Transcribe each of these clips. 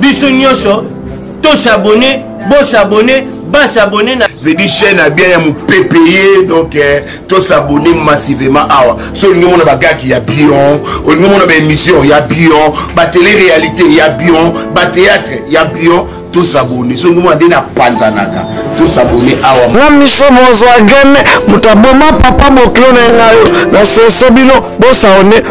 biso nyonso to s'abonner bo s'abonner ba s'abonner na vedi chaîne ya bien ya mopepe ye donc eh, to s'abonner massivement awa so olingi omona bagaki ya bion olingi omona baémission ya bion batele réalité ya bion batéâtre ya bion to s'abonner so olingi omona nde na panzanaka to s'abonner awa na miso mozwa gene moto aboma papa bokilo na ye ngayo na sense bino bo s'abonner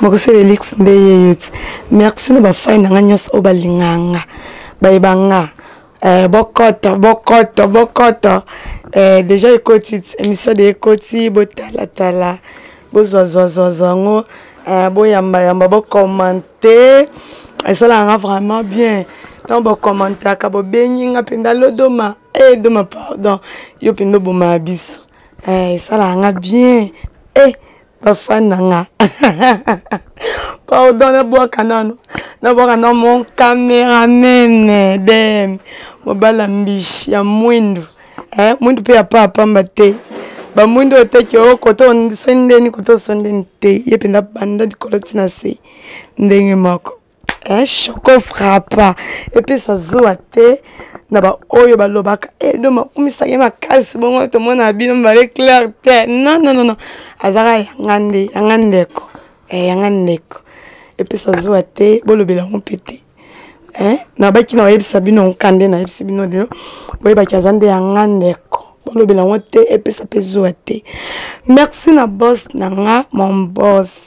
mokuse elix nde yeyo ti merci na bafai na nga nyonso oyo balingaka nga bayeba nga eh, bokoto bokoto bokoto eh, deja ekoti émission de ekoti botalatala bozwazwazwazwa yango eh, boyambayamba bokomante esalaka nga vraiment bien ntango bokomantaka bobengi nga mpenza lodoma e doma pardon yo mpenza obomaka biso esalaka nga bien e ba fan na nga pardon na bwaka nano na bwaka na mon cameraman dem mobala mbishi ya mwindu eh, mwindu mpe ya paa pamba te bamwindu oyo teke o oh, koto osondeni koto osondeni te ye mpenza banda likolo ntina se ndenge moko eh, choco frappa epesa zuwa te na baoyo balobaka edo eh, makumisaka ye makasi bongo tomona bino mibale claire te non non non azalaka yanga nde yanga ndeko eh, yanga ndeko epesa zuwa te bolobela yango mpe te eh, nabaki na bayebisa bino nkande nayebisi bino lelo boyebaki aza nde yanga ndeko bolobela yango te epesa mpe zuwa te merci na bos na nga mon bos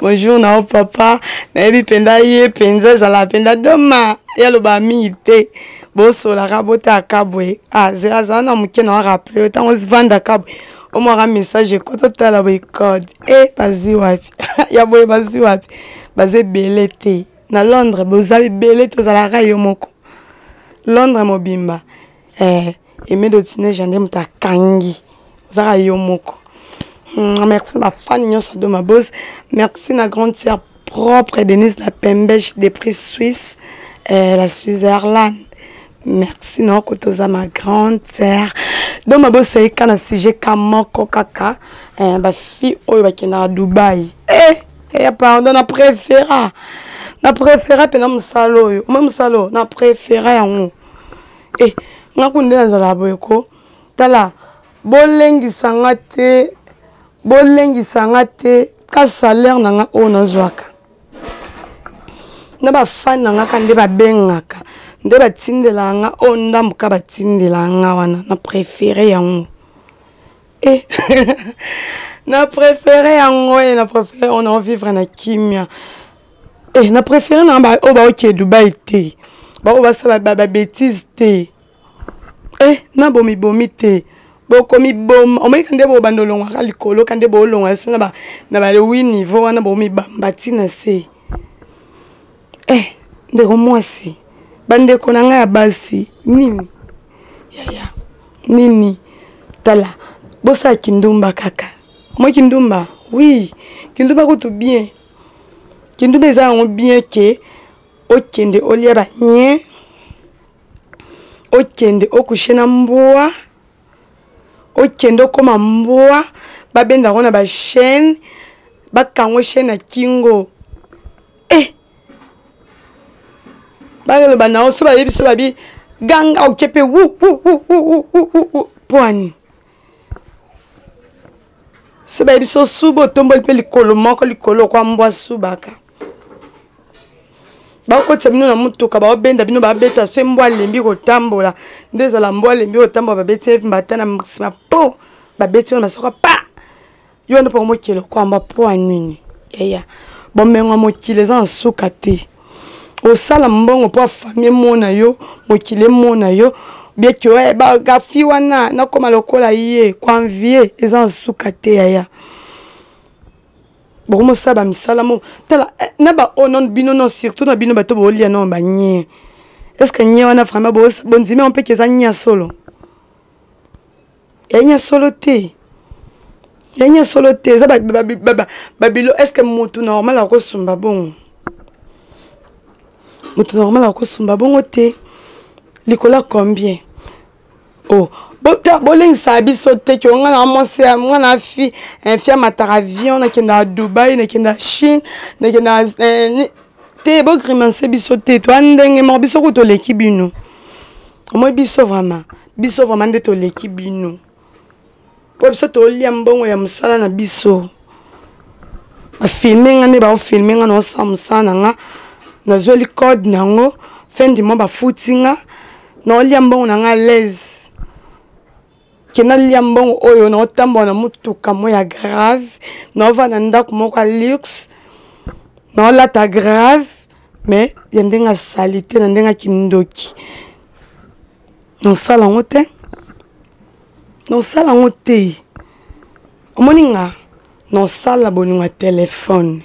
bonjour na yo papa nayebi mpenza ye mpenza ezalaka mpenza doma ye alobaka mingi te bosolaka botala kabwe azela ah, azala na moke na waraple ntango ozivanda kabwe omwaka message ekota otala boye code e eh, bazwi wapi ya boye bazwi wapi baza ebele te na londres boza ebele te ozalaka yo moko londres mobimba eh, emedo tineja nde moto akangi ozaka yo moko hmm, merci na fani nyonso ado mabos merci na grande sœur propre denise la pembege de prix suisse eh, la switzerland merci na oko toza ma grande sœur donc mabos eyika na sujet ka moko kaka eh, bafille oyo bakendaka dubai eh, eh, pardon na préféra na préféra mpena mosala oyo omoi mosala oyo na préféra yango e eh, nga kundi nde nazalaka boye ko tala bolengisa nga te bolengisa nga te ka salaire na nga oyo nazwaka na bafani na nga ka nde babengaka nde batindelaka nga oyo ndambo ka batindelaka nga wana na prefere yango Eh, na préféré yango ye eh, na préféré on a vivre na kimia e na préféré na oyo oh, baokee dubai te baoyo basala babétise te e na bomibomi te bokomiboma omoni kande bobanda olongwaka likolo kande boolongwa so na balewi niveau wana bomibamba ntina se eh ndeko mwasi bandeko na ngai ya basi nini yaya nini tala bosala kindumba kaka omoi kindumba oui kindumba kutu bien kindumba eza yango bien ke okende olia banie okende okushe na mbwa okende okoma mbwa babenda yango na bachaine bakangwe chaine na kingo eh bakelo banao so bayebi so babi ganga oke mpe mpo ani so bayebi so suba otomboli mpe likolo moko likolo okwa mbwa subaka bakotisa bino na motuka baobenda bino babeta so mbwa alembi kotambola nde ezala mbwa alembi kotambola babeti mbata na nsima po babeti wana masoko pa yo nde mpo mokili okwamba mpo ya nini yaya bomengo ya mokili eza na suka te osala mbongo mpo afami emona yo mokili emona yo bieke oye bagafi wana nakoma lokola ye koanvie eza na suka te yaya bokomosala bamisala mo tala eh, na baoyo non bino non surtout na bino bato bolia non banie estce que nie wana vraiment bondimi yango mpe keza nie ya solo yanya solo te yanya solo te eza babilo est ce que motu normal akosumba bongo motu normal akosumba bongo te likolo ya combien o oh. bolengisaka biso te ke nga na mwasi nga na fi infi eh, amataka avion nakenda ya dubai nakenda ya chine nakenda eh, te bogrimanse biso te toya ndenge moko biso kutu oleki bino omoi biso vraiment biso vraiment nde toleki bino mpo biso tolia mbongo ya mosala na biso bafilme nga nde baofilme nga naosala mosala na nga nazweli code na yango fin du mois bafuti nga naolia mbongo na nga alaise kenda lia mbongo oyo na otambola na motuka mo ya grave na ovanda ndako moko ya luxe na olata grave mais ya ndenge ya salite na ndenge ya kindoki nosala yango te nosala yango te omoni nga nosala bolingo ya telefone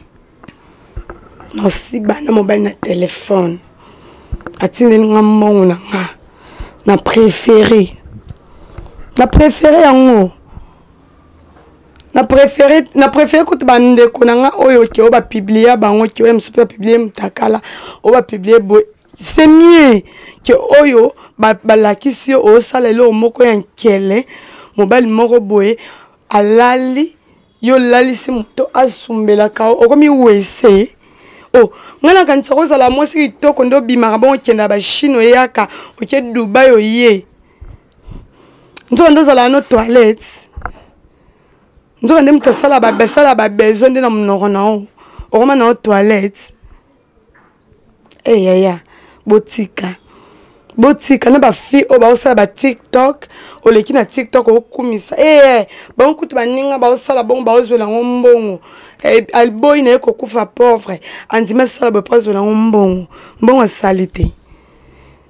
nosiba na mobali na telefone atindeli nga mbongo na nga na préféré na préféré yango na préféré na préféré kutu bandeko na nga oyo ke oyo bapiblia bango ke oyo mosusu mpe bapiblie motakala oyo bapiblie boye c'est mieux ke oyo balakisi yo osala eloko moko ya nkele mobali moko boye alali yo olalisi moto asumbelaka yo okomi wese o oh, ngai nakanisa kozala mwasi kitoko nde obimaka bongo okenda bachine oyaka oke dubai oye nzoka nde ozala no toilette nzoka nde moto asala babesoin nde na monoko na yo okoma na yo toilette e eh, yaya botika botika na bafille oyo baosala batiktok oleki na tiktok okumisa ee eh, eh, bango kutu baninga baosala bongo baozwela yango mbongo eh, alboyi na ye kokufa pauvre andimi asala boye mpo azwela yango mbongo mbongo asali te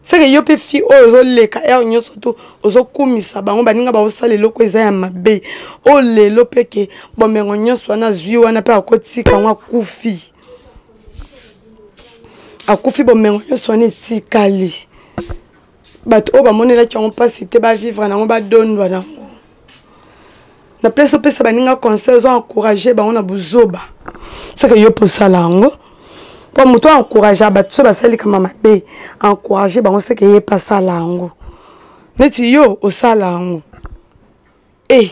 seke yo mpe fille oyo ozoleka heure nyonso tu ozokumisa bango baninga baosala eloko eza ya mabe oyo lelo mpe ke bomengo nyonso wana azwi wana mpe akotika yango akufi akufi bomengo nyonso wana etikali bato oyo bamonelaki yango mpasi te bavivre nango badondwa nango na place opesa baninga conseil ozo encourage bango na buzoba seke yo mpe osala yango mpo moto aencouragea bato so basali kama mabe encourage bango seke ye mpe asala yango neti yo osala yango e eh.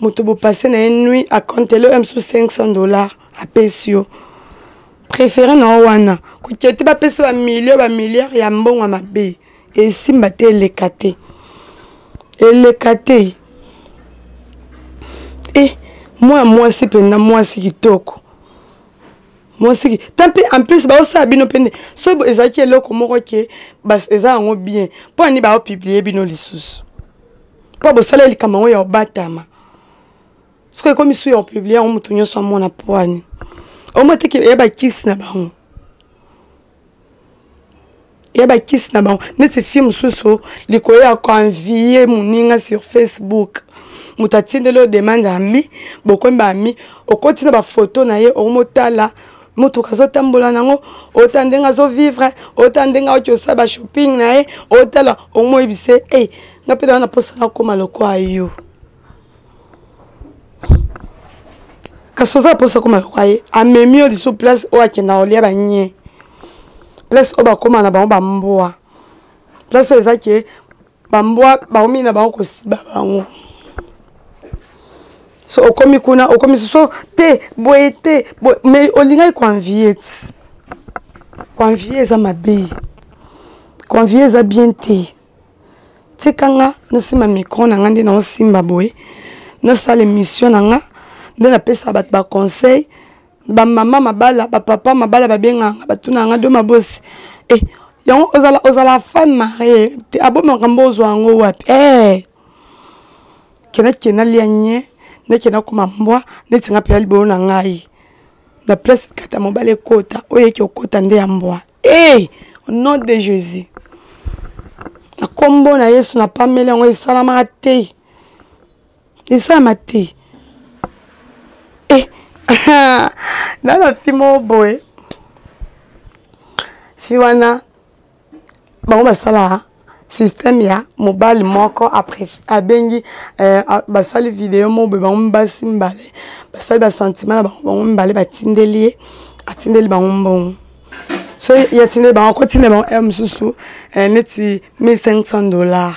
moto bopase na ye nui akontele oyo mosusu 500 dollar apesi yo préféré na yo wana kokete bapesi yo bamilio bamilliare ya mbongo ya mabe esimba te eleka te eleka te e mwana mwasi mpenza mwasi kitoko mwasi ta mpe en plus baosala bino mpe nde so ezalaki eloko moko ke eza yango bien mpo ani baopiblie bino lisusu mpo bosala likambo yango ya obatama soki ekomi su ya opiblie yango moto nyonso amona poani omo teke eya bakisi na bango eya bakisi na bango neti fille mosusu likolo ya koenvie moninga sur facebook moto atindeli yo demande ami bokomi baami okoti na bafoto na ye okomotala motuka azotambola nango ota ndenge azovivre ota ndenge auti osala bashopping na ye otala omoyebise e eh, nga mpe naa na mposa nakoma lokwa yo kasi oza na mposa koma lokwa ye amemi yo lisu place oyo akenda kolia banye place oyo bakoma na bango bambwa place oyo eza ke bambwa bakomi na bango kosiba bango so okomi kuna okomi soso te boye te mais olingaki koenvie ti koenvie eza mabe koenvie eza bien te tika nga nasimba micro na nga nde naosimba boye nasala émission na nga nde napesa bato baconseil bamama mabala bapapa mabala babenganga batuna nga do mabosi e eh, yango ozala ozala fan marie te abo makambo ozwa yango wapi e eh, kendakenda lia nye ndakenda koma mbwa neti nga mpela libolo na ngai na place kata mobali ekota oyo eke okota nde ya mbwa Hey, au nom de Jésus. Na kombo na Yesu na pameli yango esalamaka te. Esalama te. Eh, na na fi moko boye. Fi wana bango basalaka système ya mobali moko abengi euh, basali video moko boye bango basi mibale basali basentima na bango bango mibale batindeli ye atindeli bango mbongo so ye atindeli bango akotindela bango heure mosusu euh, neti 1500 dollars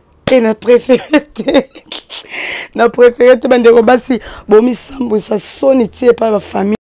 te na préféré te na préféré te bandeko basi bomisambwisa soni ti epai bafamille